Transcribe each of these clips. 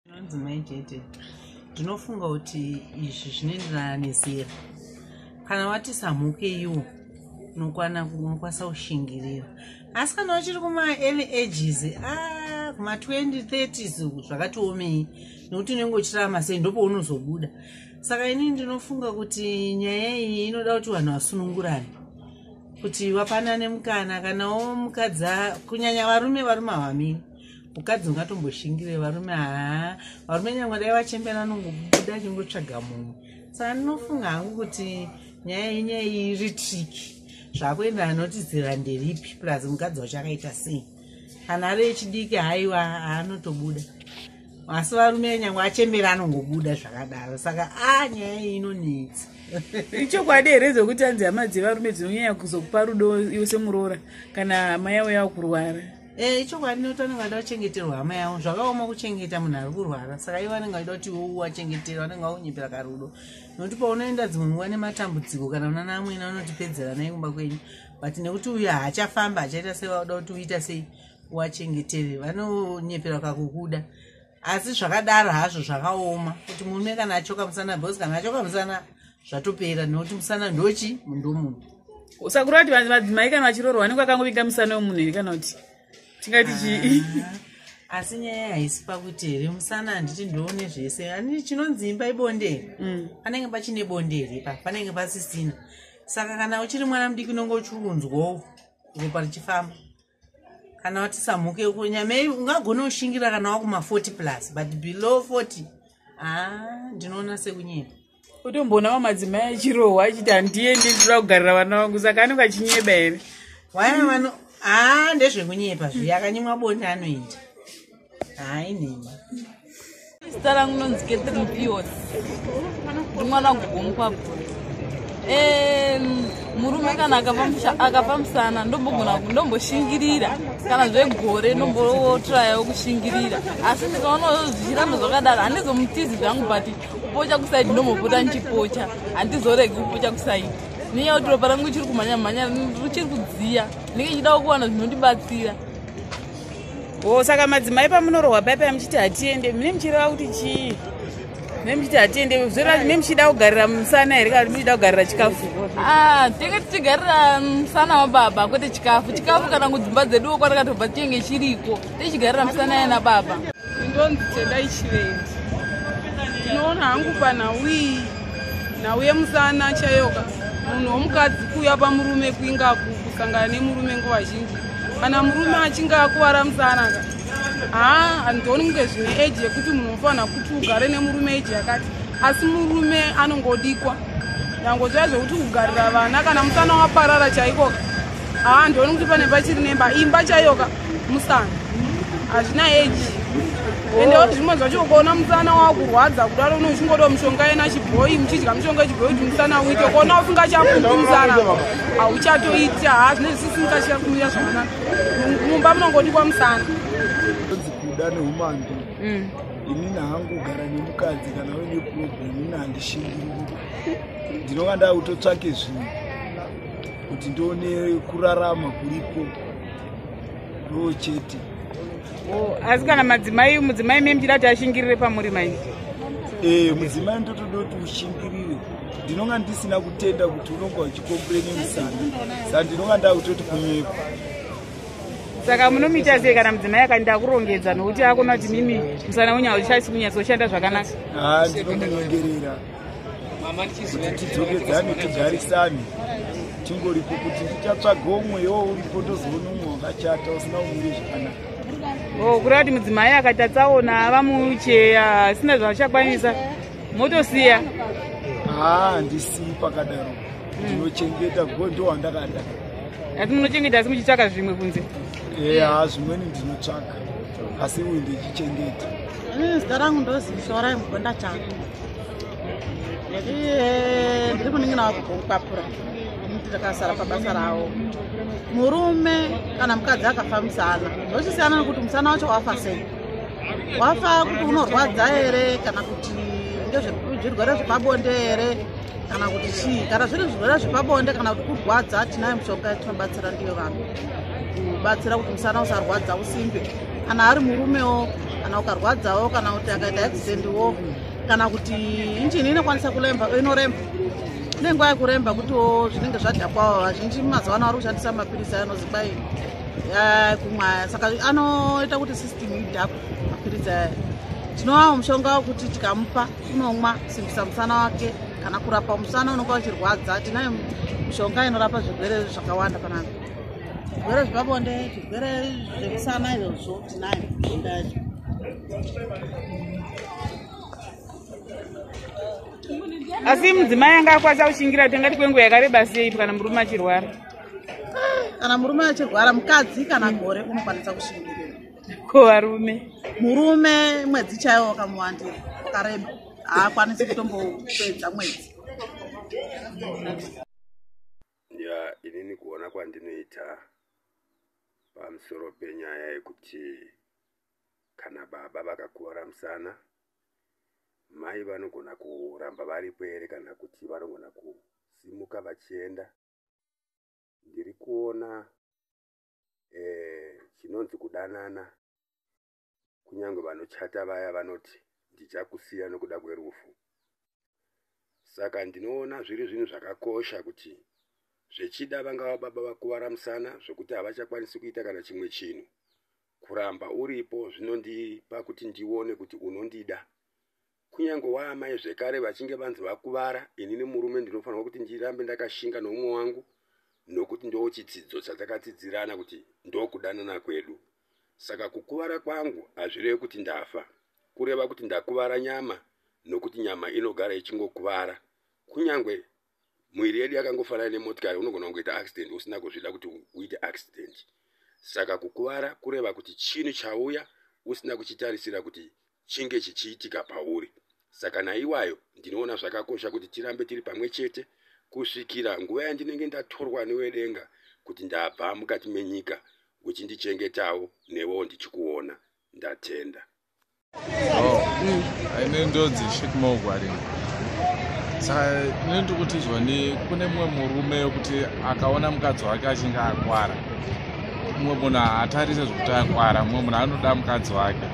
zvinonzi mai jete ndinofunga kuti izvi zvinoenderana nezera kana wati samhuke iwo unokwana unokwanisa kushingirira asi kana uchiri kumaearly ages a ah, kuma2030s zvakatiomei nekuti unenge uchirama sei ndopounozobuda saka inini ndinofunga kuti nyaya iyi inoda kuti vanhu vasunungurane kuti wapanane mukana kana womukadzi kunyanya varume varume havamini mukadzi ungatomboshingireyi varume haa varume nyangwe dai vachembera anongobuda achingotsvaga munhu saka ndinofunga hangu kuti nyaya yenye iri triki zvakuenda anoti zera nderipi plus mukadzi wacho akaita sei kana ari echidiki haiwa haanotobuda asi varume nyangwe achembera anongobuda zvakadaro saka a nyaya iyi inonetsa ichokwadi here zvokuti anzi hama dzevarume dzinonyanya kuzokupa rudo iwe semuroora kana hama yavo yava kurwara e ichokwadi nekuti vanenge vaida kuchengeterwa hama yavo zvakaoma kuchengeta munhu ari kurwara saka ivo vanenge vaida kuti iwo wachengetera vanenge vakunyepera karudo nokuti paunoenda dzimwe nguva nematambudziko kana unana amwene vanotipedzera naikumba kwenyu but nekuti uyo haachafamba achaita sei vauda kuti uita sei wachengetere vanonyepera kakukuda asi zvakadaro hazvo zvakaoma kuti murume kana achoka musana bcause kana achoka musana zvatopera nekuti musana ndochi mundomunhu usakuru vati madzimai kana vachiroro vanenge vakangovinga musana wemunhu here kana kuti tingati chii ah, asi nyaya haisi pakuti here musana handiti ndoone zvese ani chinonzi imba ibondere mm. panenge pachine bondere pa panenge pasisina saka kana uchiri mwana mudiki unonge uchiunzwawo ropa richifamba kana wati samhuke uko nyamei ungagona kushingira kana wakuma 40 plus but below 40 haa ndinoona sekunyepa utomboonawo madzimai achirohwa achiti handiye ndindoda kugarira vana vangu saka anenge achinyeba here waya vano haa ndezvekunyepa zviya akanyimwa bonde anoenda hayi nini zita rangu nonzi catherine pios ndi mwana wagogomukwabvu murume kana akapa musana ndombogona ndomboshingirira kana zvegore ndombotrayawo kushingirira asi ndikaonawo zvichiramba zvakadaro handizomutizi zvangu but kupocha kusaidi ndombopota ndichipocha handizoregi kupocha kusaidi nenyaya kuti ropa rangu richiri kumhanya mhanya richiri kudziya ndinge chidawo kuwana zvinondibatsira o saka madzimai pamunorohwa pai pai muchiti hatiende mune muchireva kuti chii mune muchiti hatiende zvoreva mune muchida kugarira musana here kana muchida kugarira chikafu ah, tinenge tichigarira musana wababa kwete chikafu chikafu kana kudzimba dzeduwo kwatakatobva chinenge chiriko tichigarira musana yana baba ndonzi tedai chivendi ndinoona hangu panhauii nhau yemusana chayoka munhu womukadzi kuuya pamurume kuingaku kusangana nemurume nguva zhinji kana murume achinge akuvara musanaka haa handioni kunge zvine eji yekuti munhu unofanira kuti ugare nemurume eji yakati asi murume anongodikwa nyangoziva zvekuti kugarira vana kana musana waparara chaikoka haa ndioni kuti pane pachiri nemba imba chaiyoka musana hazvina eji ende wati zvimwe zvacho ukaona musana wakurwadza kudaro uno uchingoda mushonga yena chibhoyi muchidya mushonga chibhoyi kuti musana uite ukaona usinga chaputi musana hauchatoiti haa zvine zvisisinga chiyakumira zvakanaka mumba munongodikwa musana kuda neumambi mm. inini hangu kugara nemukadzi kana uine problem ini handishingiri ndinonga ndakutotsvake zvinhu kuti ndione kurarama kuriko ndoo chete oh, asi kana madzimai mudzimai me muchida kuti ashingirire pamuri mai e eh, mudzimai ndotoda kuti ushingirire ndinonga ndisina kutenda kuti unonga uchikompleni musana sa ndinonga ndakutoti kunyepa saka munomuita sei kana mudzimai akandi akurongedza nokuti akona kuti mimi musana wenyu hauchasi kunyatsoshanda zvakanaka ha ah, ndinomunyengerera kuti tidzokedzane tigarisane tingoripo kuti tichatsvaga umwe yoo uripo tozoona umwe wakachata usina umire zvakanaka oh, kureva kuti mudzimai akati atsaona ava mucheya asina zvaachakwanisa motosiya haa handisii pakadaro ndinochengeta go ndo wandakada asi munochengeta asi muchitsvaka zvimwe kunze eha eh, zvimweni ndinotsvaka asi uyu ndichichengeta zita rangu ndozishorai mugonda chako Eh, ndiri munin'ina wako kokupapura muti takasara pabasa ravo murume kana mukadzi akafa musana zvochisiyana nekuti musana wacho wafa sei wafa kuti unorwadza here kana kuti ndezvezvirwere zvepabonde here kana kuti chii kana zviri zvirwere zvepabonde kana kuti kurwadza tinayo mushonga yatinobatsira ndiyo vanhu kubatsira kuti musana usarwadza usimbe kana ari murumewo kana ukarwadzawo kana kuti akaita accident wo kana kuti injini inokwanisa kuremba inoremba ine nguva yekuremba kutiwo zvinenge zvadhakwawo vazhinji mazuva ano ari kushandisa mapirisi anozi kwai kumwaya saka anoita kuti system idhakwe mapirisi aya tinovawo mushonga wekuti tikamupa unomwa kusimbisa musana wake kana kurapa musana unonga uchirwadza tinayo mishonga inorapa zvirwere zvakawanda panapa zvirwere zvepabonde zvirwere zvekusana izvozvo tinayo bonde yacho asi mudzimai anga akwanisa kushingira kuti angati kwenguva yakareba sei kana murume achirwara kana murume achirwara mukadzi kana gore unokwanisa kushingirira ko varume murume mwedzi chaiwo wakamuwandira wakareba haakwanisi kutombopedza mwedzi ya inini kuona kwandinoita pamusoro penyaya yekuti kana baba vakakuvara musana mai vanogona kuramba varipo here kana kuti vanogona kusimuka vachienda ndiri kuona eh, chinonzi kudanana Kunyange vanochata vaya vanoti ndichakusiya nokuda kwerufu. Saka ndinoona zviri zvinhu zvakakosha kuti zvechida vangava baba vakuvara musana zvokuti havachakwanisi kuita kana chimwe chinhu. Kuramba uripo zvinondipa kuti ndione kuti unondida kunyange waamai zvekare vachinge vanzi vakuvara ini nemurume ndinofanirwa kuti ndirambe ndakashinga noumwe wangu nokuti ndoo chitsidzo chatakatsidzirana kuti ndokudanana kwedu saka kukuvara kwangu hazvirevi kuti ndafa kureva kuti ndakuvara nyama nokuti nyama inogara ichingokuvara kunyange mwiri yedu yakangofanana nemotikari unogona kungoita accident usina kuzvida kuti uite accident saka kukuvara kureva kuti chinhu chauya usina kuchitarisira kuti chinge chichiitika pauri saka naiwayo ndinoona zvakakosha kuti tirambe tiri pamwe chete kusvikira nguva yandinenge ndatorwa newedenga kuti ndabva mukati menyika uchindichengetawo newewo ndichikuona ndatenda oh. mm. aine ndodzi shitmogwari saka ine ndiri kutizwa ni kune mumwe murume wekuti akaona mukadzi wake achinge akwara mumwe munhu haatarise zvekuti akwara mumwe munhu anoda mukadzi wake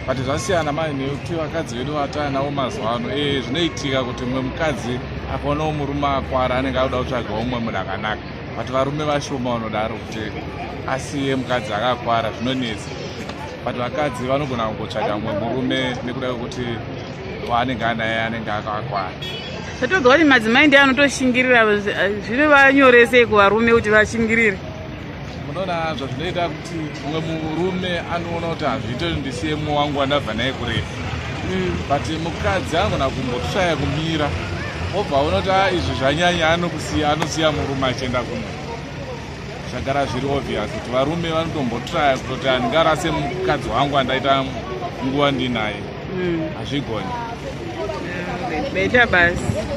but zvasiyana mai nekuti vakadzi vedu vataa navo mazuva ano e eh, zvinoitika kuti mumwe mukadzi akaonawo murume akwara anenge akuda kutsvaga umwe munhu akanaka but varume vashoma vanodaro kuti asiye mukadzi akakwara zvinonetsa but vakadzi vanogona kungotsvaga mumwe murume nekuda kwekuti waanenge anaye anenge akakwana tatoga kuti madzimai ndiye anotoshingirira eh, zvinovanyoresei kuvarume kuti vashingirire munoona zvazvinoita kuti mumwe murume anoona kuti hazviite kuti ndisiye mumwe wangu wandabva naye kurefu mm. but mukadzi anogona kumboshaya kumira obva aona kuti ah, izvi zvanyanya anokusiya anosiya murume achienda kumwe zvagara zviri obvious kuti varume vanotombotraya kutoti handingarase mukadzi wangu andaita nguva ndinaye mm. hazvigoni mm, beta basi